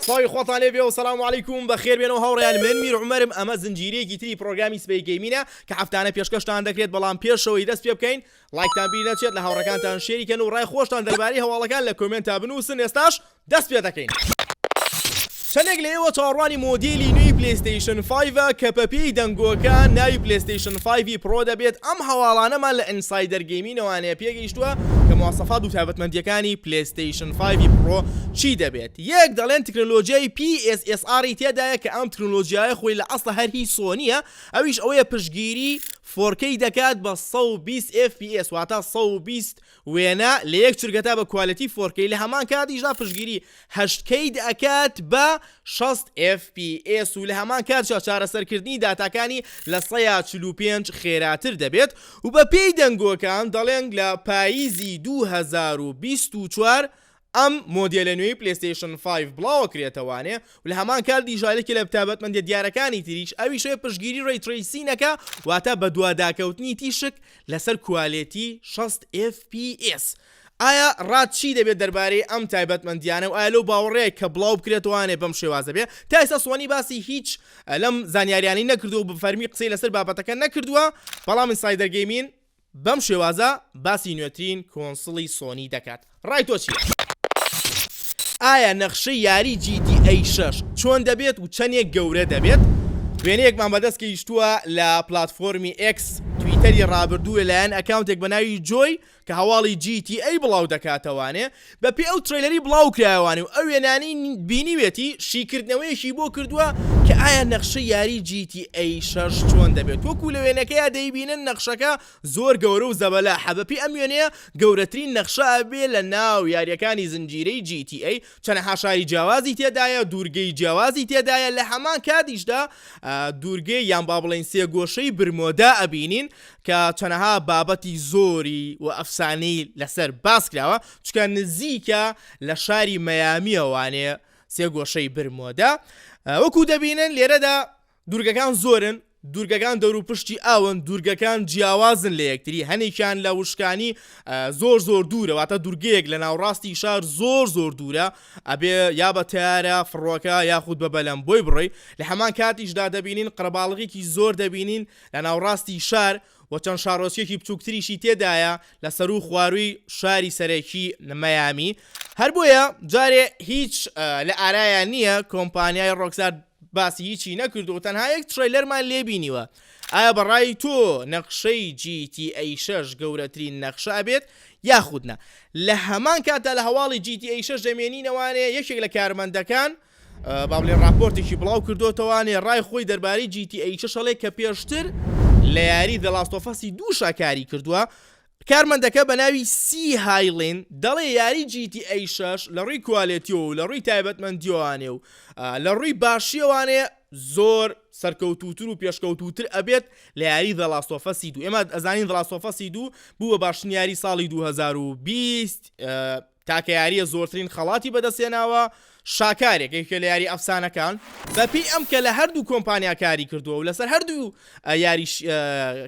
سڵاوی خۆتان لێ بێ و سلام و علیکم بەخێر بێنەوە هاوڕیان من میر عمرم ئەمە زنجیرەیەکی تری پرۆگرامی سپی گەیمینە کە هەفتانە پێشکەشتان دەکرێت بەڵام پێشەوەی دەست پێ بکەین لایکتان بیر نەچێت لە هاوڕەکانتان شێریکەن و ڕای خۆشتان دەربارەی هەواڵەکان لە کۆمنتا بنووسن ئێستاش دەست پێ دەکەین. چەندێک لە ئێوە چاوەڕوانی مۆدێلی نوێی پلەیستەیشن فایڤە کە بە پێی دەنگۆکە ناوی پلەیستەیشن فایڤی پڕۆ دەبێت، ئەم هەواڵانەمان لە ئینسایدەر گەیمینەوانەیە پێگەیشتووە کە مواسەفات و تایبەتمەندییەکانی پلەیستەیشن فایڤی پڕۆ چی دەبێت، یەک دەڵێن تەکنەلۆجیای پی ئێس ئێس ئاڕی تێدایە کە ئەم تەکنەلۆجیایە خۆی لە ئەسڵا هەر هی سۆنییە ئەویش ئەوەیە پشتگیری فۆرکەی دەکات بە سەد و بیست ئێف پی ئێس واتە سەد و بیست وێنە، لە یەک چرکە تا بە کوالێتی فۆر کەی، لە هەمان کاتیشدا پشتگیری هەشت کەی دەکات بە شەست ئێف پی ئێس و لە هەمان کاتیشدا چارەسەرکردنی داتاکانی لە سەیا چل و پێنج خێراتر دەبێت و بەپێی دەنگۆکان دەڵێن لە پاییزی دوو هەزار و بیست و چوار ئەم مۆدێلە نوێی پلەیستەیشن فایڤ بڵاوەکرێتەوانێ و لە هەمان کات دیژایلکی لە بتابەتمەندیە دیارەکانی تریش ئەویش ئەوێ پشتگیری ڕەی ترەیسینەکە واتە بەدواداکەوتنی تیشک لەسەر کوالێتی شەست ئێف پی ئێس ئایا ڕات چی دەبێت دەربارەی ئەم تایبەتمەندیانە و ئایا لەو باوەڕەیە کە بڵاوبکرێتەوانێ بەم شێوازە بێ تا ئێستا سۆنی باسی هیچ لەم زانیاریانەی نەکردووە و بە فەرمی قسەی لەسەر بابەتەکە نەکردووە بەڵام ئینسایدەر گەیمین بەم شێوازە باسی نوێترین کۆنسڵی سۆنی دەکات ڕای تۆ چیە؟ ئایا نەخشەی یاری جی تی ئەی شەش چۆن دەبێت و چەنێک گەورە دەبێت؟ وێنەیەکمان بەدەست گەیشتووە لە پلاتفۆرمی ئێکس، تویتەری ڕابردوو لەلایەن ئەکاونتێک بەناوی جۆی کە هەواڵی جی تی ئەی بڵاودەکاتەوانێ، بە پێی ئەو ترەیلەری بڵاو کرایەوانی و ئەو وێنانەی بینیوێتی شیکردنەوەیەکی بۆ کردووە کە ئایا نەخشەی یاری جی تی ئەی شەش چۆن دەبێت وەکو لە وێنەکەیا دەیبینن نەخشەکە زۆر گەورە و زەبەلاحە بە پێی ئەم وێنەیە گەورەترین نەخشە ئەبێ لە ناو یاریەکانی زنجیرەی جی تی ئەی چەنەها شاری جیاوازی تێدایە دوورگەی جیاوازی تێدایە لە هەمان کاتیشدا دوورگەی یان با بڵێین سێ گۆشەی برمۆدا ئەبینین کە چەنەها بابەتی زۆری و ئەفسانەی لەسەر باس کراوە چونکە نزیکە لە شاری مەیامیە وانێ سێ گۆشەی برمۆدە وەکو دەبینن لێرەدا دوورگەکان زۆرن دوورگەکان دەوروپشتی ئاون دوورگەکان جیاوازن لە یەکتری هەنێکیان لە وشکانی زۆر زۆر دوورەواتە دوورگەیەک لە ناوڕاستی شار زۆر زۆر دوورە ئەبێ یا بە تارە فڕۆکە یاخود بە بەلەم بۆی بڕی لە هەمان کاتیشدا دەبینین قەرباڵغێکی زۆر دەبینین لە ناوڕاستی شار و چەند شاڕۆچکێکی بچووکتریشی تێدایە لە سەروو خوارووی شاری سەرەکی مەیامی، هەر بۆیە جارێ هیچ لە ئارایان نییە، کۆمپانیای ڕۆکسار باسی هیچی نەکرد و تەنها یەک تڕەیلەرمان لێ بینیوە، ئایا بە ڕای تۆ نەخشەی جی تی ئەی شەش گەورەترین نەخشە ئەبێت یاخود نا؟ لە هەمان کاتدا لە هەواڵی جی تی ئەی شەش دەمێنینەوانێ یەکێک لە کارمەندەکان، با بڵێین ڕاپۆرتێکی بڵاو کردۆتەوە نێ ڕای خۆی دەربارەی جی تی ئەی شەش ئەڵێ کە پێشتر لە یاری The Last of Us دوو شا کاری کردووە کارمەندەکە بە ناوی سی هایلین دەڵێ یاری جی تی ئەی شەش لە ڕووی کوالێتیەوە و لە ڕووی تایبەتمەندیەوانێ و لە ڕووی باشیەوانێ زۆر سەرکەوتووتر و پێشکەوتووتر ئەبێت لە یاری The Last of Us دوو ئێمە ئەزانین The Last of Us دوو بوو بە باشترین یاری ساڵی 2020 تاکە یارییە زۆرترین خەڵاتی بەدەستهێناوە، شاکارێک، یەکێکە لە یاری ئەفسانەکان، بەپێی ئەم کە لە هەردوو کۆمپانیا کاری کردووە و لەسەر هەردوو یاریش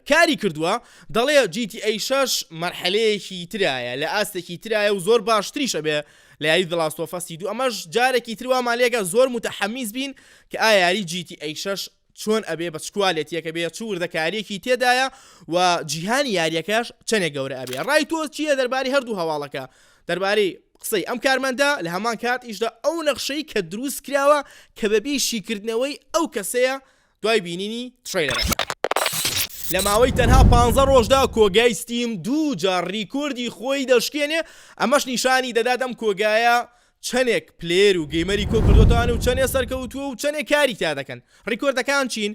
کاری کردووە، دەڵێ جی تی ئەی شەش مەرحەلەیەکی ترایە، لە ئاستێکی ترایە و زۆر باشتریش ئەبێ لە یاری The Last of Us ی دوو، ئەمەش جارێکی تر وامان لێکا زۆر متحمیس بین کە ئایا یاری جی تی ئەی شەش چۆن ئەبێ بە چ کوالێتیەکە بێ چ وردەکاریەکی تێدایە و جیهانی یاریەکەش چەنێ گەورە ئەبێ ڕای تۆ چیە دەرباری هەردوو هەواڵەکە دەربارەی قسەی ئەم کارمەندە لە هەمان کات ئیشدا ئەو نەخشەی کە دروست کراوە کە بەبی شیکردنەوەی ئەو کەسەیە دوای بینینی تڕەیلەرەکە. لە ماوەی تەنها پانزە ڕۆژدا کۆگای ستیم دوو جار ڕیکۆردی خۆی دەشکێنێ ئەمەش نیشانی دەدات ئەم کۆگایە چەنێک پلەیەر و گەیمەری کۆ کردۆتەوە و چەنێ سەرکەوتووە و چەنێ کاری تیا دەکەن ڕیکۆردەکان چین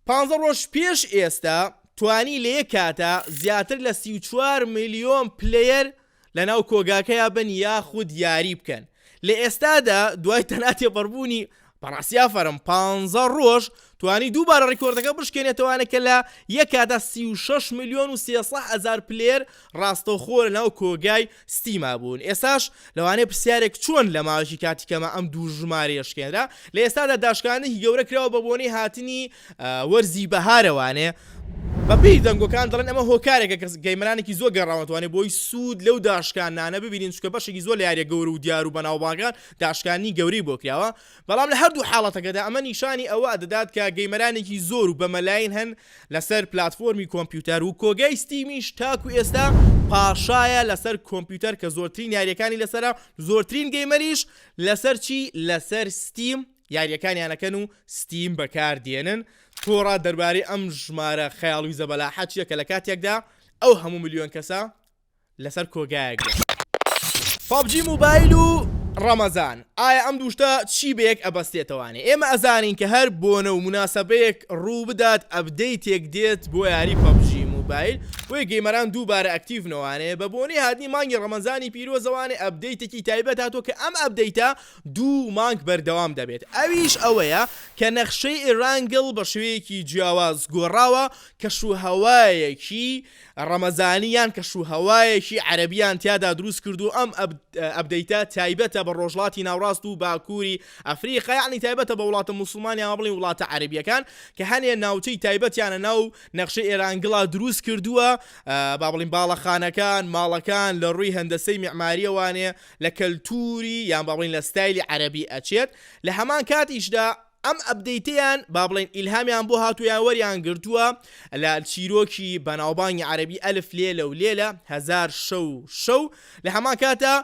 پانزە ڕۆژ پێش ئێستا توانی لە یەک کاتا زیاتر لە سی و چوار ملیۆن پلەیەر لەناو کۆگاکەیا بن یاخود یاری بکەن لە ئێستادا دوای تەناتێبەڕبوونی بەڕاستی ئافەرم پانزە ڕۆژ توانی دووبارە ڕیکۆردەکە بشکێنێتەوانە کە لە یەکادا سی و شەش ملیۆن و سێ سەح ئەزار پلێر ڕاستەوخۆ لە ناو کۆگای ستیما بوون ئێساش لەوانەیە پرسیارێک چۆن لە ماوەکی کاتی کەمە ئەم دوو ژمارەیە شکێنرا لە ئێستادا داشکانێکی گەورە کراوە بە بۆنەی هاتنی وەرزی بەهارەوانێ بەپێی دەنگۆکان دەڵێن ئەمە هۆکارێکە کەس گەیمەرانێکی زۆر گەڕاوەتوانێت بۆی سوود لەو داشکانانە ببینین چکە بەشێکی زۆر لە یاریە گەورە و دیار و بەناوباگان داشکاندنی گەورەی بۆ کراوە، بەڵام لە هەردوو حاڵەتەکەدا ئەمە نیشانی ئەوە دەدات کە گەیمەرانێکی زۆر و بە مەلاین هەن لەسەر پلاتفۆرمی کۆمپیوتەر و کۆگای ستیمیش تاکو ئێستا پاشایە لەسەر کۆمپیوتەر کە زۆرترین یاریەکانی لەسەرە زۆرترین گەیمەریش لەسەر چی لەسەر ستیم یاریەکانیان ئەکەن و ستیم بەکار دێنن تۆڕا دەربارەی ئەم ژمارە خەیاڵوی زەبەلاحە چیە کە لە کاتێکدا ئەو هەموو ملیۆن کەسە لەسەر کۆگایەک بێت. پەبجی موبایل و ڕەمەزان ئایا ئەم دوو شتە چی بەیەک ئەبەستێتەوانێ ئێمە ئەزانین کە هەر بۆنە و موناسەبەیەک ڕوو بدات ئەبدەیتێک دێت بۆ یاری پەبجی موبایل بۆیە گەیمەران دووبارە ئەکتیڤنەوانێ بە بۆنەی هاتنی مانگی ڕەمەزانی پیرۆزەوانێ ئەبدەیتێکی تایبەت هاتووە کە ئەم ئەبدەیتە دوو مانگ بەردەوام دەبێت ئەویش ئەوەیە کە نەخشەی ئێرانگڵ بە شێوەیەکی جیاواز گۆڕاوە کەشوهەوایەکی ڕەمەزانی یان کەشوهەوایەکی عەرەبیان تیادا دروست کردووە ئەم ئەپدەیتە تایبەتە بە ڕۆژڵاتی ناوڕاست و باکووری ئەفریقا یەعنی تایبەتە بە وڵاتە موسڵمان یان بڵێین وڵاتە عەرەبیەکان کە هەنێ ناوچەی تایبەتیانە ناو نەخشەی ئێرانگڵا دروست کردووە با بڵێین باڵەخانەکان ماڵەکان لە ڕووی هەندەسەی میعماریەوانێ لە کەلتووری یان با بڵێین لە ستایلی عەرەبی ئەچێت لە هەمان کاتیشدا ئەم ئەپدەیتەیان با بڵێین ئیلهامیان بۆ هاتووە یان وەریان گرتووە لە چیرۆکی بەناوبانگی عەرەبی ئەلف لێلە و لێلە هەزار شەو و شەو لە هەمان کاتدا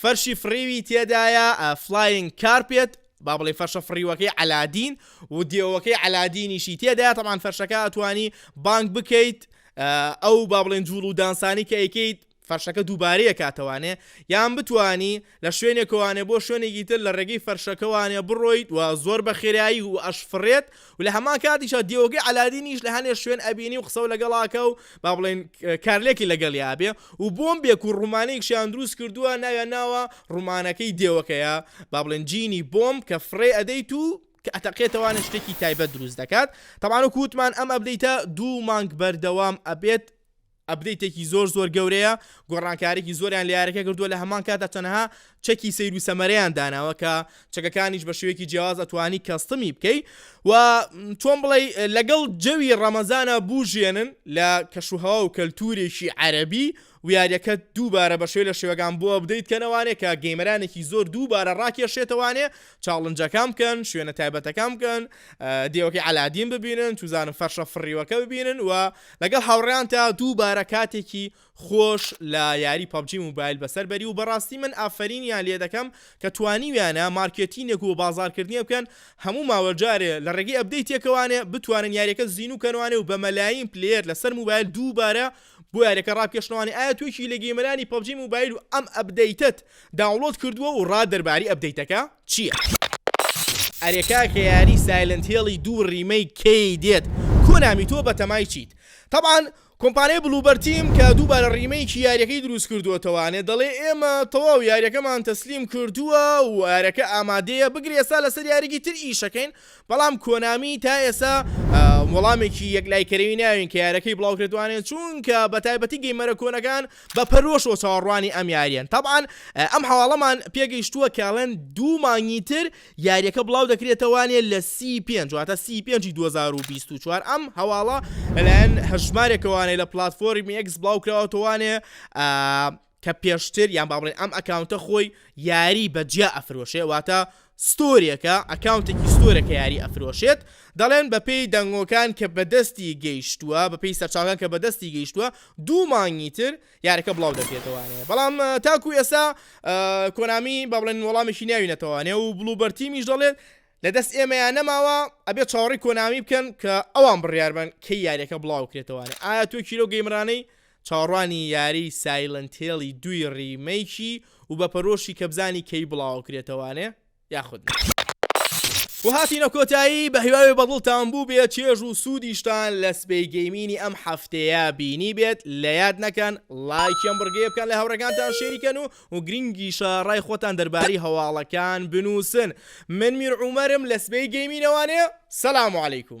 فەرشی فڕیوی تێدایە Flying Carpet با بڵێ فەرشە فڕیوەکەی عەلادین و دێوەکەی عەلادینیشی تێدایە تەبعان فەرشەکە ئەتوانی بانگ بکەیت ئەو با بڵێن جوڵ و دانسانی کە ئەیکەیت فەرشەکە دووبارەیەکاتەوانێ یان بتوانی لە شوێنێکەوانێ بۆ شوێنێکی تر لە ڕێگەی فەرشەکەوانێ بڕۆیت و زۆر بە خێرایی و ئەشفڕێت و لە هەمان کاتیشا دیوەکەی عەلادینیش لە هەنێ شوێن ئەبینی و قسەو لەگەڵاکە و با بڵێن کارلێکی لەگەڵیا بێ و بۆمبێک و ڕومانێکشیان دروست کردووە ناویان ناوە ڕومانەکەی دێوەکەیە با بڵێن جینی بۆمب کە فڕێ ئەدەیت و کە ئەتەقێتەوانە شتێکی تایبەت دروست دەکات تەبان و کووتمان ئەم ئەبدەیتە دوو مانگ بەردەوام ئەبێت ئەپدەیتێکی زۆر زۆر گەورەیە گۆڕانکاریی زۆریان لە یارەکە کردووە لە هەمان کاتدا تەنها چەکی سەیر و سەمەرەیان داناوە کە چەکەکانیش بە شێوەیەکی جیاواز ئەتوانی کەستمی بکەی و چۆن بڵێ لەگەڵ جەوی ڕەمەزانە بوژێنن لە کەشوهوا و کەلتورێکی عەربی ویاریەکە دووبارە بە شێو لە شێوەکان بۆ ئەبدەیت کەنەوانێ کە گەیمەرانێکی زۆر دووبارە ڕاکێشێتەوانێ چاڵنجەکان بکەن، شوێنە تایبەتەکان بکەن، دێوەکەی عەلادین ببینن، چوزانم فەرشە فڕیوەکە ببینن و لەگەڵ هاوڕێیانتا دووبارە کاتێکی خۆش لە یاری پەبجی موبایل بەسەر بەری و بەڕاستی من ئافەرینیان لێ دەکەم کە توانیویانە مارکێتینێک و بازاڕکردنێ بکەن هەموو ماوە جارێ لە ڕێگەی ئەپدەیتێکەوانێ بتوانن یاریەکە زینوو کەنوانێ و بە مەلایین پلەیەر لەسەر موبایل دووبارە بۆ یاریەکە ڕاپکێشنەوانی ئایا تۆ یەکێکی لە گەیمەرانی پەبجی موبایل و ئەم ئەپدەیتەت داونڵۆد کردووە و ڕات دەرباری ئەپدەیتەکە چییە؟ ئەرێ کاکە یاری سایلنت هێڵی دوو ڕیمەیک کەی دێت کۆنامی تۆ بەتەمای چیت تەبعەن کۆمپانیای بلوبەر تیم کە دووبارە ڕیمەیکی یاریەکەی دروست کردۆتەوە نێ دەڵێ ئێمە تەواو یاریەکەمان تەسلیم کردووە و یارەکە ئامادەیە بگرە ئێستا لەسەر یاریکی تر ئیشەکەین بەڵام کۆنامی تا ئێستا وەڵامێکی یەکلایکەرەوی ناوین کە یارەکەی بڵاوکردوانێ چونکە بە تایبەتی گەیمەرە کۆنەکان بە پەرۆشەوە چاوەڕوانی ئەم یاریەن تەبعەن ئەم هەواڵەمان پێگەیشتووە کەڵێن دوو مانگی تر یاریەکە بڵاو دەکرێتەوانێ لە سی پێنج واتە سی پێنجی 2024 ئەم هەواڵە لەلایەن هەژمارێکەوانێ لە پلاتفۆرمی ئەکس بڵاوکراوەتەوانێ کە پێشتر یان با بڵێین ئەم ئەکاونتە خۆی یاری بە جیا ئەفرۆشێ واتە ستۆرێکە ئەکاونتێکی ستۆرە کە یاری ئەفرۆشێت دەڵێن بە پێی دەنگۆکان کە بەدەستی گەیشتووە بە پێی سەرچاوەکان کە بەدەستی گەیشتووە دوو مانگی تر یارەکە بڵاو دەکرێتەوانەیە بەڵام تاکو ئێستا کۆنامی با بڵێن وەڵامێکی ناوینەتەوانێ و بڵوبەرتیمیش دەڵێت لە دەست ئێمەیان نەماوە ئەبێ چاوەڕی کۆنامی بکەن کە ئەوان بڕیاربن کەی یاریەکە بڵاوکرێتەوەوانێ ئایا توێکی لەو گەیمرانەی چاوەڕوانی یاری سایلنت هێڵی دووی ڕیمەیکی و بە پەرۆشی کە بزانی کەی بڵاوەکرێتەوانێ یاخود نا. و هاتینە کۆتایی بە هیواوێ بە دڵتان بووبێ چێژ و سوودیشتان لە سبەی گەیمینی ئەم هەفتەیە بینیبێت لە یاد نەکەن ڵایکی ئەم بڕگەیە بکەن لە هاوڕێکانتان شێری کەن و و گرینگیشە ڕای خۆتان دەربارەی هەواڵەکان بنووسن من میرعومەرم لە سبەی گەیمینەوانێ سلام علیکم.